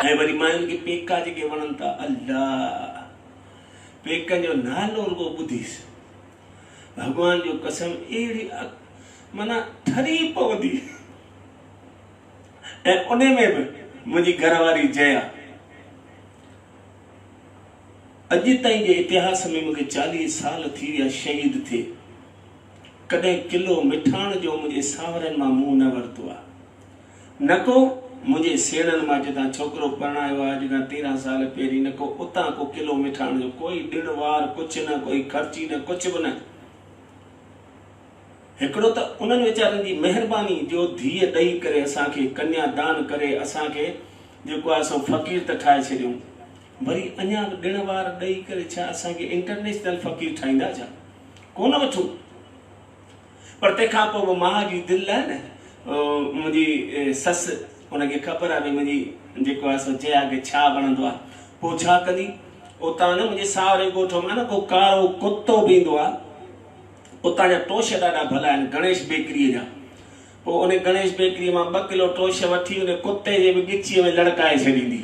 ۽ وري ماين کي پيڪا جيڪي وڻن ٿا الله پيڪن جو نالو رڳو ٻڌيس ڀڳوان جو قسم اهڙي معنيٰ ٺري پوندي ۽ ان ۾ به منهنجي گهر واري جيا اڄ تائين جي اتهاس ۾ مونکي چاليهه سال ٿي ويا شهيد ٿئي ڪڏهن قلعو مٺاڻ جو منهنجي سانورن مان منهن نه ورتو آ نڪو منهنجي سيڻن مان جتان ڇوڪرو پرڻايو آ اڄ کان تيرهن سال پهرين نڪو اتان ڪو قلعو مٺاڻ جو ڪوئي ڏڻ وار ڪڇ نه ڪوئي خرچي نه ڪڇ به نه هڪڙو ته انهن ويچارن جي مهرباني جو ڌيء ڏئي ڪري اسان کي ڪنيا دان ڪري اسان کي جيڪو آ سو فقير ته ٺاهي ڇڏيون وري اڃا به ڏڻ وار ڏئي ڪري ڇا اسان کي انٽرنيشنل فقير ٺاهيندا ڇا؟ ڪونه وٺون پر تنهن کان پوء به ماء جي دل لاء نه منهنجي سس ان کي خبر آهي ڀئي منهنجي جيڪو آهي سو جيا کي ڇا وڻندو آهي پوء ڇا ڪندي اتان نه منهنجي ساهري ڳوٺ مان نه ڪو ڪارو ڪتو به ايندو آهي اتان جا ٽوش ڏاڍا ڀلا آهن گڻيش بيڪري جا پوء ان گڻيش بيڪري مان ٻه ڪلو ٽوش وٺي ان ڪتي جي به ڳچيء ۾ لڙڪائي ڇڏيندي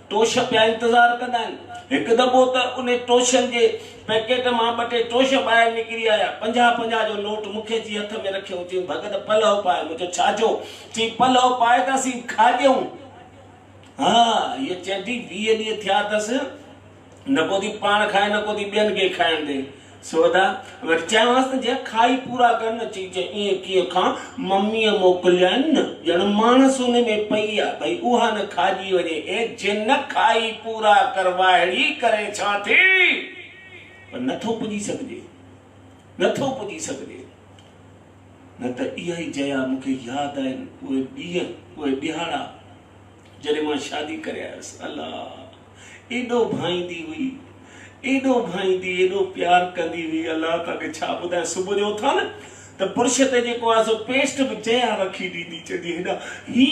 ٽوش پيا انتظار ڪندا آهن. هڪ دفعو ته انهي ٽوشن جي پيڪيٽ مان ٻه ٽي ٽوش ٻاهر نڪري آيا. پنجاهه پنجاهه جو نوٽ مون کي چي هٿ ۾ رکيو. چيم، ڀڳت پلئو پاء. مون چيو، ڇا ڇو؟ چيم، پلئو پائي ته اسين کاڄيون. ها، هيء چينڊي ويهه ڏينهن ٿيا اٿس. نه ڪو ٿي پاڻ کائي نه ڪو ٿي ٻين کي کائڻ ڏي. سودا وٽ چيائونس ته جيئن کائي پورا ڪر نه چي چي ايئن ڪيئن کان مميء موڪليائين نه ڄڻ ماڻس ان ۾ پئي آ ڀئي اها نه کائجي وڃي اي جي نه کائي پورا ڪر واهڙي ڪري ڇا ٿي پر نٿو پڄي سگهجي نٿو پڄي سگهجي نه ته اها ئي جيا مون کي ياد آهن اهي ڏينهن اهي ڏهاڙا جڏهن مان شادي ڪري آيس الله ايڏو ڀائيندي هئي ايڏو ڀائيندي ايڏو پيار ڪندي هئي الله توکي ڇا ٻڌايان صبح جو اٿان نه ته برش تي جيڪو آهي سو پيسٽ به جيان رکي ڏيندي چوندي هيڏا هي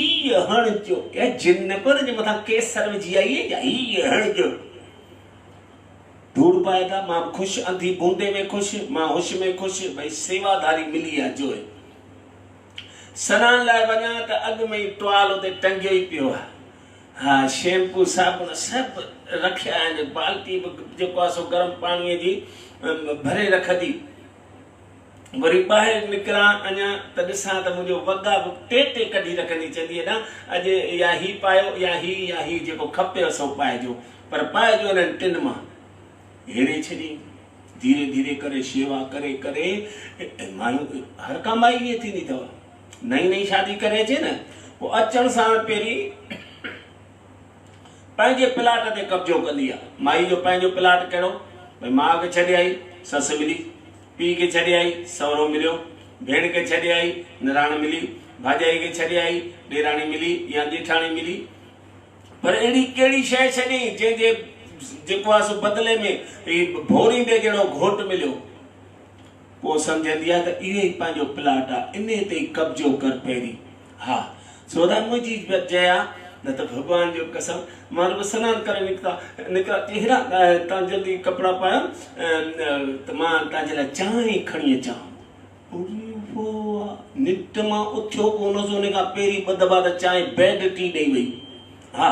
هڻ جو ڪيا جن نه پيو جي مٿان ڪيسر وجهي آئي جا هي هڻ جو ڌوڙ پائي ٿا مان به خوش انڌي بوندي ۾ خوش مان هوش ۾ خوش ڀئي سيوا ڌاري ملي آ جو سنان لاء وڃان ته اڳ ۾ ئي ٽوال اتي ٽنگيو ئي پيو آهي ها شيمپو صابڻ سڀ رکيا آهن بالٽي به جيڪو آهي سو گرم پاڻي جي ڀري رکندي وري ٻاهر نڪران اڃا ته ڏسان ته منهنجو وڳا به ٽي ٽي ڪڍي رکندي چوندي ادا اڄ يا هي پايو يا هي يا هي جيڪو کپيو سو پائجو پر پائجو انهن ٽن مان هيري ڇڏي ڌيري ڌيري ڪري شيوا ڪري ڪري مايون هر ڪا مائي ائين ٿيندي اٿو. نئين نئين شادي ڪري اچي نه پوء اچڻ ساڻ پهرين پنهنجي پلاٽ تي قبضو ڪندي آ. مائي جو پنهنجو پلاٽ ڪهڙو؟ ڀئي ماء کي ڇڏي آئي، سس ملي. پيء کي ڇڏي آئي، سهرو مليو. ڀيڻ کي ڇڏي آئي، نراڻ ملي. ڀاڄائي کي ڇڏي آئي، ڏيراڻي ملي يا ڄيٺاڻي ملي. پر اهڙي ڪهڙي شيء ڇڏيئين جنهن جي جيڪو آ سو بدلي ۾ هي ڀوريندي جهڙو گهوٽ مليو. پوء سمجهندي آ ته اهو ئي پنهنجو پلاٽ آ، انهي تي ئي قبضو ڪر پهرين. ها، سودا منهنجي جئي آ، نه ته ڀڳوان جو قسم، مان رڳو سنان ڪري نڪتا نڪران ته هيڏانهن تان جلدي ڪپڙا پايان ته مان تنهنجي لاء چانهه کڻي اچان ها. اري واء واء! نڪٽ مان اٿيو ڪونه سو ان کان پهرين ٻه دٻا ته چانهه بيڊ ٽي ڏئي وئي. ها!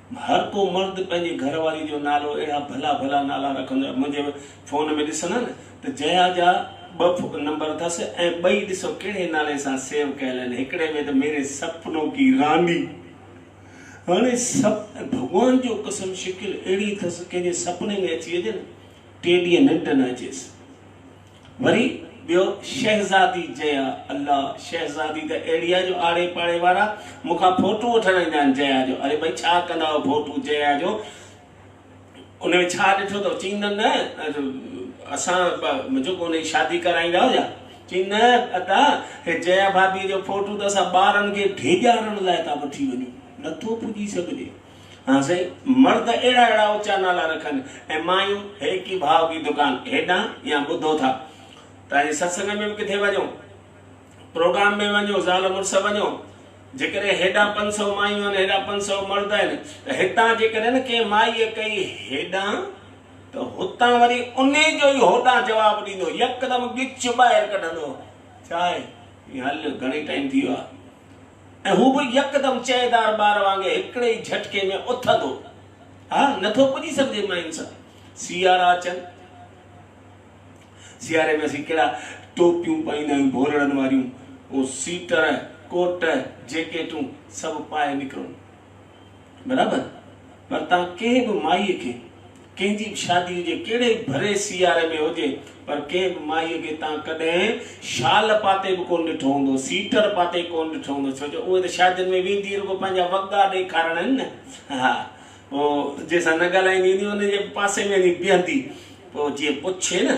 هر ڪو مرد پنهنجي گهر واري جو نالو اهڙا ڀلا ڀلا نالا رکندو آهي منهنجي فون ۾ ڏسندا نه ته جيا جا ٻه نمبر اٿس ۽ ٻئي ڏسو ڪهڙي نالي سان سيو ڪيل آهن هڪڙي ۾ ته ميري سپنو ڪي راني هاڻي سپ ڀڳوان جو قسم شڪل اهڙي اٿس ڪنهن جي سپني ۾ اچي وڃي نه ٽي ڏينهن ننڊ نه اچيس. وري ٻيو شهزادي جيا الله شهزادي ته اهڙي آهي جو آڙي پاڙي وارا مون کان ڦوٽو وٺڻ ايندا آهن جيا جو اري ڀئي ڇا ڪندا آهيو ڦوٽو جيا جو ان ۾ ڇا ڏٺو اٿو چين نه نه اسان جيڪو ان جي شادي ڪرائيندا هيا چين نه ادا هي جيا ڀاڀي جو ڦوٽو ته اسان ٻارن کي ڊيڄارڻ لاء ٿا وٺي وڃون نٿو پڄي سگهجي ها سائين، مرد اهڙا اهڙا اوچا نالا رکن ۽ مايون هيڪي ڀاء ڪي دڪان هيڏانهن يا ٻڌو ٿا ته ائين ستسنگ ۾ به ڪٿي وڃو، پروگرام ۾ وڃو، زال مڙس وڃو، جيڪڏهن هيڏانهن پنج سؤ مايون آهن، هيڏانهن پنج سؤ مرد آهن ته هتان جيڪڏهن ڪنهن مائيء ڪئي هيڏانهن ته هتان وري انهي جو ئي هوڏانهن جواب ڏيندو، يڪدم ڳچ ٻاهر ڪڍندو، ڇا آهي؟ هل، گهڻي ٽائيم ٿي ويو آهي. ۽ هو به يڪدم چهدار ٻار وانگي هڪڙي ئي جهٽڪي ۾ اٿندو. ها، نٿو پڄي سگهجي مئين سان. سيارا اچن. سياري ۾ اسين ڪهڙا ٽوپيون پائيندا آهيون ڀورڙن واريون، اهو سيٽر، ڪوٽ، جيڪيٽون سڀ پائي نڪرون. برابر پر تان ڪنهن به مائي کي ڪنهن جي به شادي هجي ڪهڙي به ڀري سياري ۾ هجي پر ڪنهن به مائي کي تان ڪڏهن شال پاتي به ڪونه ڏٺو هوندو سيٽر پاتي ڪونه ڏٺو هوندو ڇو جو اهي ته شادين ۾ ويندي ئي رڳو پنهنجا وڳا ڏيکارڻ آهن نه ها پوء جنهن سان نه ڳالهائيندي هوندي ان جي پاسي ۾ وڃي بيهندي پوء جيئن پڇي نه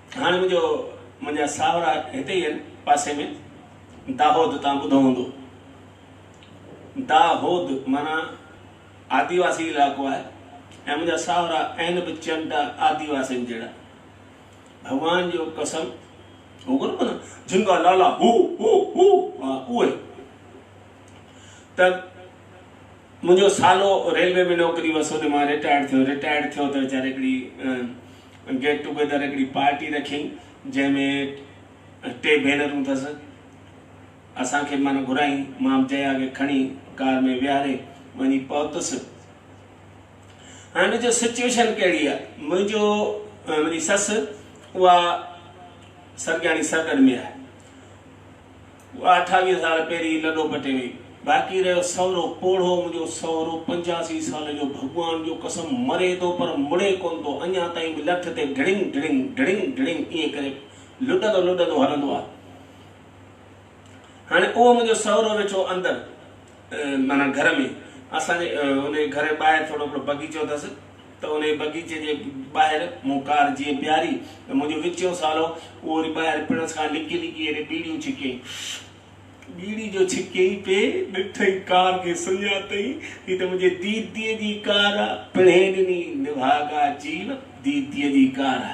هاڻي منهنجو منهنجا ساهورا هتي ئي آهن پاسي ۾ داهود تان ٻڌو هوندو داهود معنيٰ آديواسي علائقو آهي ۽ منهنجا ساهورا عين به چنڊا آديواسين جهڙا ڀڳوان جو قسم هو ڪونه ڪونه جن کا لالا هو هو هو اهي ته منهنجو سالو ريلوي ۾ نوڪري هئس هوڏي مان رٽائرڊ ٿيو رٽائرڊ ٿيو ته ويچاري هڪڙي گيٽ ٽوگيدر هڪڙي پارٽي رکيائين جنهن ۾ ٽي ڀينرون ٿس اسان کي معنيٰ گهرايائين مان به جيا کي کڻي ڪار ۾ ويهاري وڃي پهتس هاڻي جو سچويشن ڪهڙي آهي منهنجو منهنجي سس اها سرگياڻي سرڳڙ ۾ آهي اها اٺاويهه سال پهرين ئي لڏو پٽي وئي. باقي رهيو سهرو پوڙهو، منهنجو سهرو پنجاسي سالن جو ڀڳوان جو قسم مري ٿو پر مڙي ڪونه ٿو، اڃا تائين به لٺ تي ڍڙنگ ڍڙنگ ڍڙنگ ڍڙنگ ائين ڪري لڏندو لڏندو هلندو آهي. هاڻي اهو منهنجو سهرو ويٺو اندر معنيٰ گهر ۾، اسان جي ان جي گهر جي ٻاهر ٿورو هڪڙو بغيچو اٿس، ته انهيء بغيچي جي ٻاهر مون ڪار جيئن بيهاري ته منهنجو وچيون سالو اهو وري ٻاهر پڻس کان لڪي لڪي اهڙي ٻيڙيون ڇڪيائين. ٻيڙي جو ڇڪيائين پئي ڏٺئي ڪار کي سڃاتئين هي ته منهنجي ديديء جي ڪار آ. پڻهين ڏني نڀاڳا جيو ديديء جي ڪار آ.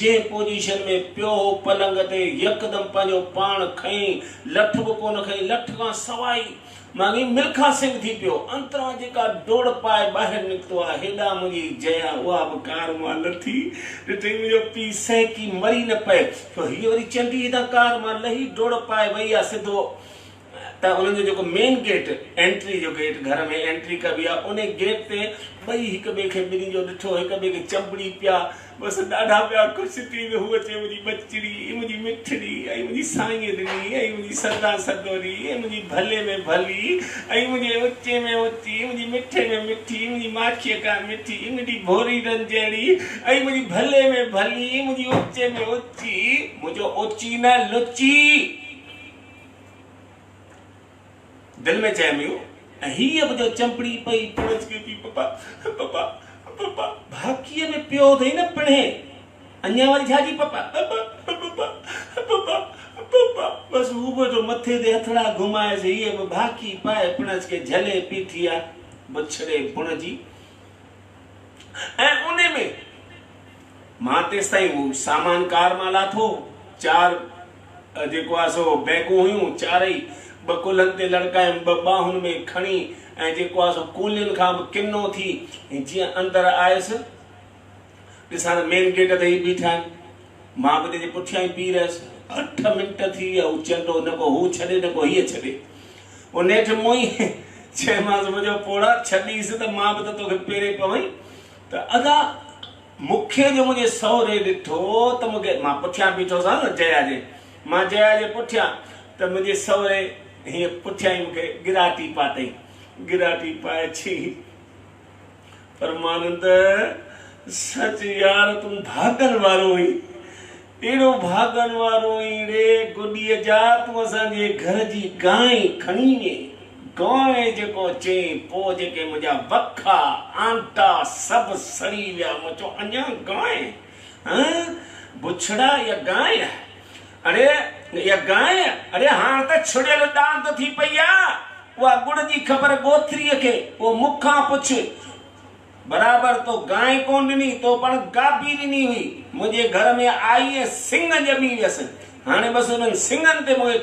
جنهن پوزيشن ۾ پيو هو پلنگ تي يڪدم پنهنجو پاڻ کنئين، لٺ به ڪونه کنئين، لٺ کان سواء ئي مانگي ملکا سنگهه ٿي پيو، انتران جيڪا ڊوڙ پائي ٻاهر نڪتو آ، هيڏانهن منهنجي جيا اها به ڪار مان لٿي، ڏٺئي منهنجو پيء سهڪي مري نه پئي، ڇو هيء وري چنڊي هيڏانهن ڪار مان لهي ڊوڙ پائي وئي آ، سڌو. ته انهن جو جيڪو مين گيٽ انٽري جو گيٽ گهر ۾ انٽري ڪبي آ ان گيٽ تي ٻئي هڪ ٻئي کي ٻنهي جو ڏٺو هڪ ٻئي کي چنبڙي پيا بس ڏاڍا پيا خوش ٿي ته هوء چي منهنجي ٻچڙي اي منهنجي مٺڙي اي منهنجي سائينء ڏني اي منهنجي سدا سدوري اي منهنجي ڀلي ۾ ڀلي اي منهنجي اوچي ۾ اوچي اي منهنجي مٺي ۾ مٺي اي منهنجي ماکيء کان مٺي اي منهنجي ڀوري رن جهڙي اي منهنجي ڀلي ۾ ڀلي اي منهنجي اوچي ۾ اوچي منهنجو اوچي نه لچي دل ۾ چيم يو ۽ هيء به جو چنبڙي پئي پڻجڪي پي پپا پپا پپا ڀاڪيء ۾ پيو اٿئي نه پڻهي اڃا وري ڇا جي پپا پپا پپا پپا پپا بس هو به جو مٿي تي هٿڙا گهمائيس هيء به ڀاڪي پائي پڻجڪي جهلي پي ٿيا بڇڙي بڻ جي ۽ انهي ۾ مان تيستائين هو سامان ڪار مان لاٿو چار جيڪو آهي سو بئنڪون هيون چارئي، ٻه ڪلهن تي لڙڪايم، ٻه ٻانهن ۾ کڻي ۽ جيڪو آهي سو ڪولين کان به ڪنو ٿي جيئن اندر آيس، ڏسان ته مين گيٽ تي هي بيٺا آهن، مان به تنهنجي پٺيان ئي پيهي رهيس. اٺ منٽ ٿي ويا، هو چنڊو نه ڪو هو ڇڏي نه ڪو هيء ڇڏي، هو نيٺ مون ئي چيمانس منهنجو پوڙها ڇڏيس ته مان به ته توکي پيري پوين ته ادا مون کي جو منهنجي سهري ڏٺو ته مون کي، مان پٺيان بيٺو سان نه جيا جي، مان جيا جي پٺيان ته منهنجي سهري هيئن پٺيان ئي مون کي ڳراٽي پاتئي. ڳراٽي پائي ڇي پرمانند سچ يار تون ڀاڳن وارو هئين اهڙو ڀاڳن وارو اهڙي گڏيء جا تون اسان جي گهر جي گانء کڻي وئين. گانء جيڪو چيائين، پوء جيڪي منهنجا وکا، آنٽا، سڀ سڙي ويا. مون چيو، اڃا گانء؟ هنء بڇڙا اها گانء آهي. اڙي اها گانء؟ اڙي هاڻ ته ڇڙيل ڏاند ٿي پئي آ. اها ڳڙ جي خبر ڳوٿريء کي، پوء مون کان پڇ. برابر تو گانء ڪون ڏني، تو پڻ گاپي ڏني هئي. منهنجي گهر ۾ آئي ۽ سڱ ڄمي ويس. هاڻي بس انهن سڱن تي مون کي.